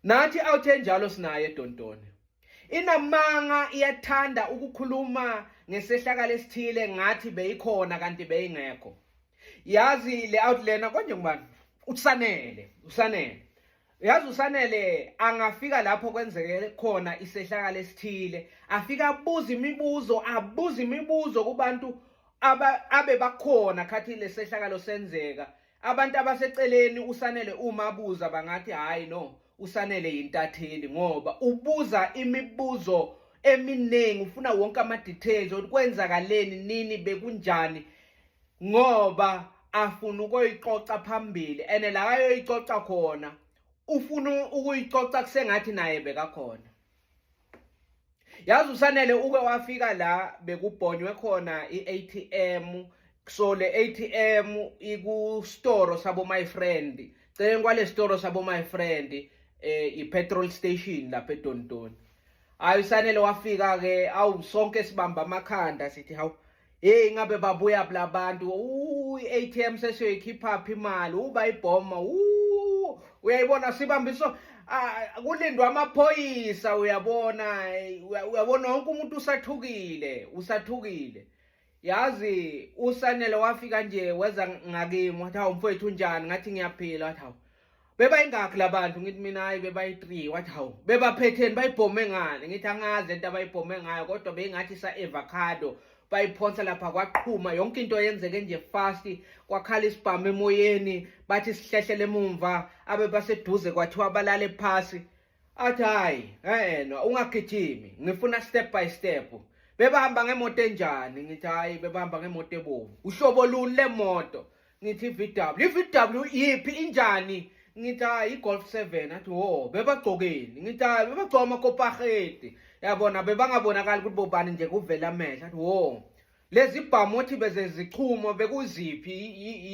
Nathi awuthe njalo sinaye Dontoni. Inamanga iyathanda ukukhuluma ngesehlakalo esithile ngathi beyikhona kanti beyingekho. Yazi le outliner konje ngubani? Usanele, usanele. Yazi usanele angafika lapho kwenzeke khona isehlakalo esithile, afika abuza imibuzo, abuza imibuzo kubantu abe bakhona khathi lesehlakalo senzeka Abantu abaseceleni uSanele uma abuza bangathi hayi no uSanele yintatheli ngoba ubuza imibuzo eminingi ufuna wonke ama details ukuthi kwenzakaleni nini bekunjani ngoba afuna ukuyicoca phambili and la ayoyicoca khona ufuna ukuyicoca kusengathi naye bekakhona yazi usanele uke wafika la bekubhonywe khona i-atm so le atm ikustoro sabo my friend celeni kwale sitoro sabo my friend eh i-petrol station lapha edontoni hayi usanele wafika-ke awu sonke sibamba amakhanda sithi hawu Hey ingabe babuya bla bantu i-ATM sesiyoyikhipha phi imali uba ibhoma uyayibona sibambiso kulindwa amaphoyisa uyabona uyabona wonke umuntu usathukile usathukile yazi usanele wafika nje weza ngakimi wathi hawu mfowethu unjani ngathi ngiyaphila wathi hawu bebayingakhi labantu ngithi mina hayi bebayi-3 wathi hawu bebaphetheni bayibhome ngani ngithi angazi lento abayibhome ngayo kodwa beyingathi sa-evacado bayiphonsa lapha kwaqhuma yonke into yenzeke nje fast kwakhala isibhamu emoyeni bathi sihlehlele emumva abe baseduze kwathiwa balale phasi athi hayi enwa ungagijimi ngifuna step by step bebahamba ngemoto enjani ngithi hayi bebahamba ngemoto ebovu uhlobo luni lemoto ngithi i-vw i-vw yiphi injani ngithi hayi i-golf seven athi wo bebagcokeni ngithi hayi bebagcoka amakopaheti yabona bebangabonakali ukuthi bobani nje kuvela amehlo athi wo lezi bhamu othi bezezichumo bekuziphi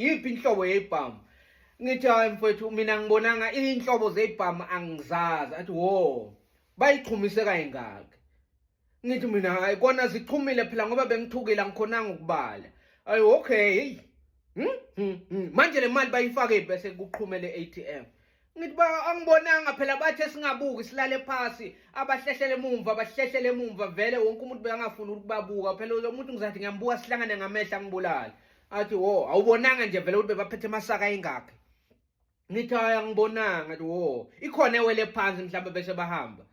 yiphi inhlobo yeyibhamu ngithi hayi mfowethu mina ngibonanga iy'nhlobo zeyibhamu angizazi athi wo bayichumise kayingaki ngithi mina hayi kona zichumile phela ngoba bengithukile angikhonanga ukubala ayi okay heyi hmm? hmm, hmm. manje le mali bayifake bese kuqhumele i-a t m ngithi ba angibonanga phela bathe singabuki silale phasi abahlehlele emumva abahlehlele emumva vele wonke umuntu bekangafuni ukubabuka phela lo muntu ngizathi ngiyambuka sihlangane ngamehla ngibulale athi wo awubonanga nje vele ukuthi bebaphethe amasaka ingakhe ngithi hayi angibonanga athi wo ikhona ewele phansi mhlawumbe bese bahamba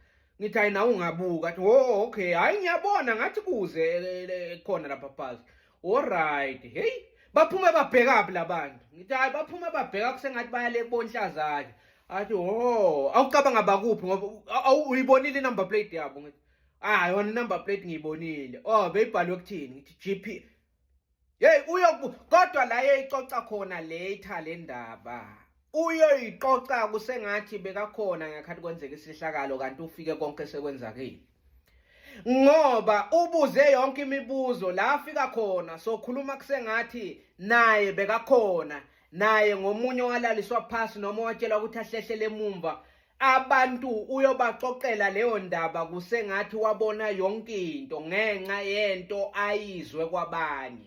ngithi hayi nawe ungabuka athi ho oh, okay hayi ngiyabona ngathi kuze eh, khona lapha phansi alright hey baphume babhekaphi labantu ngithi hayi baphume babheka kusengathi bayale kubonhlazake athi ho oh, awucabanga bakuphi ngoba uyibonile inumber plate yabo ngithi hayi ah, yona inumber plate ngiyibonile oh beyibhalwe kuthini ngithi GP Hey uyo kodwa la eyicoca khona later le ndaba. Uyoyicoca kusengathi bekakhona ngekhathi kwenzeka isihlakalo kanti ufike konke sekwenzakile. Ngoba ubuze yonke imibuzo la afika khona sokhuluma kusengathi naye bekakhona naye ngomunye walaliswa phansi noma watshelwa ukuthi ahlehlele emumva Abantu uyobaxoxela leyo ndaba kusengathi wabona yonke into ngenxa yento ayizwe kwabanye.